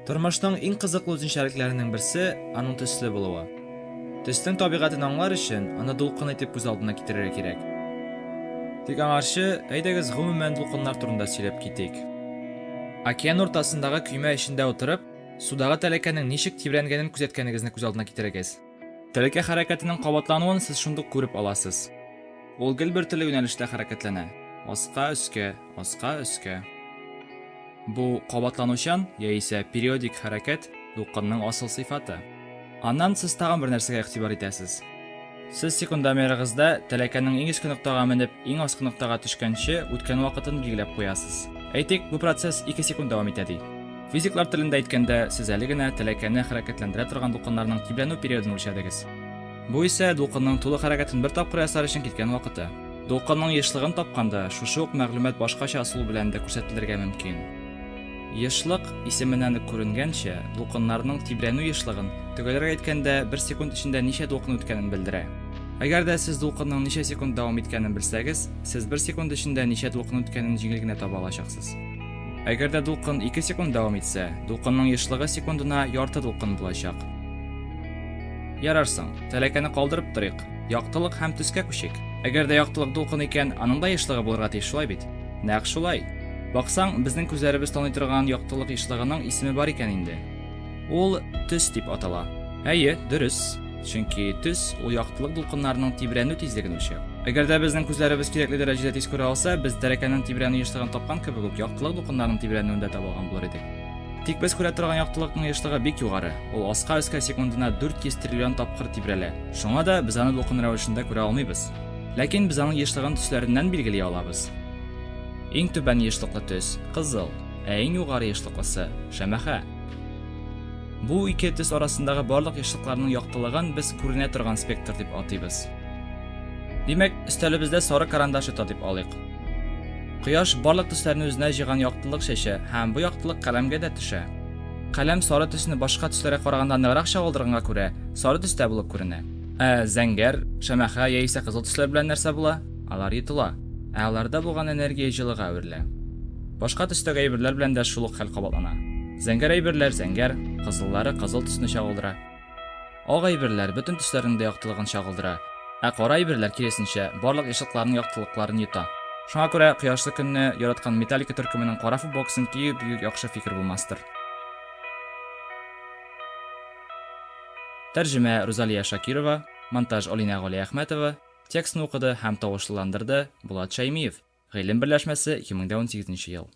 Тормышның иң кызыклы үзенчәлекләренең берсе аның төсле булуы. Төснең табигатен аңлар өчен аны дулкын итеп күз алдына китерергә кирәк. Тик аңарчы, әйдәгез гомумән дулкыннар турында сөйләп китик. Океан уртасындагы көймә эчендә утырып, судагы тәләкәнең ничек тибрәнгәнен күзәткәнегезне күз алдына китерегез. Тәлкә хәрәкәтенең кабатлануын сез шундук күреп аласыз. Ул гел бер төрле юнәлештә хәрәкәтләнә, аска-өскә, аска-өскә. Бу кабатланучан яисә периодик хәрәкәт дулкынның асыл сыйфаты. Аннан сез тагын бер нәрсәгә игътибар итәсез. Сез секундомерыгызда тәләкәнең иң өске ноктага менеп, иң аскы ноктага төшкәнче үткән вакытын билгеләп куясыз. Әйтик, бу процесс ике секунд дәвам итә ди. Физиклар телендә әйткәндә, сез әле генә тәләкәне хәрәкәтләндерә торган дулкыннарның тибрәнү периодын үлчәдегез. Бу исә дулкынның тулы хәрәкәтен бер тапкыр ясар өчен киткән вакыты. Дулкынның ешлыгын тапканда, шушы ук мәгълүмат башкача ысул белән дә күрсәтелергә мөмкин. Ешлык, исеменнән үк күренгәнчә, дулкыннарның тибрәнү ешлыгын, төгәлрәк әйткәндә, бер секунд эчендә ничә дулкын үткәнен белдерә. Әгәр дә сез дулкынның ничә секунд дәвам иткәнен белсәгез, сез бер секунд эчендә ничә дулкын үткәнен җиңел генә таба алачаксыз. Әгәр дә дулкын 2 секунд дәвам итсә, дулкынның ешлыгы секундына ярты дулкын булачак. Ярарсың, тәләкәне калдырып торыйк. Яктылык һәм төскә күчик. Әгәр дә яктылык дулкын икән, аның да ешлыгы булырга тиеш, шулай бит? Нәкъ шулай. Баксаң, безнең күзләребез таный торган яктылык ешлыгының исеме бар икән инде. Ул төс дип атала. Әйе, дөрес. Чөнки төс ул яктылык дулкыннарының тибрәнү тизлеген үлчәү. Әгәр дә безнең күзләребез кирәкле дәрәҗәдә тиз күрә алса, без тәрәкәнең тибрәнү ешлыгын тапкан кебек үк яктылык дулкыннарының тибрәнүен дә таба алган булыр идек. Тик без күрә торган яктылыкның ешлыгы бик югары, ул аска өскә секундына 400 триллион тапкыр тибрәлә. Шуңа да без аны дулкын рәвешендә күрә алмыйбыз. Ләкин без аның ешлыгын төсләреннән билгели алабыз. Иң түбән ешлыклы төс, кызыл, ә иң югары ешлыклысы, шәмәхә. Бу ике төс арасындагы барлык яшьлыкларның яктылыгын без күренә торган спектр дип атыйбыз. Димәк, өстәлебездә сары карандаш ята дип алыйк. Кояш барлык төсләрне үзенә җыйган яктылык чәчә һәм бу яктылык каләмгә дә төшә. Каләм сары төсне башка төсләргә караганда ныграк чагылдырганга күрә, сары төстә булып күренә. Ә зәңгәр, шәмәхә яисә кызыл төсләр белән нәрсә була? Алар йотыла, ә аларда булган энергия җылыга әверелә. Башка төстәге әйберләр белән дә шул ук хәл кабатлана. Зәңгәр әйберләр зәңгәр, кызыллары кызыл төсне чагылдыра. Ак әйберләр бөтен төсләрнең дә яктылыгын чагылдыра, ә кара әйберләр, киресенчә, барлык ешлыкларның яктылыкларын йота. Шуңа күрә кояшлы көнне яраткан Металлика төркеменең кара футболкасын кию бигүк яхшы фикер булмастыр. Тәрҗемә, Рузалия Шакирова, монтаж, Алинә Галиәхмәтова, Текстны укыды һәм тавышлыландырды Булат Шәймиев, Гыйлем берләшмәсе, 2018 ел.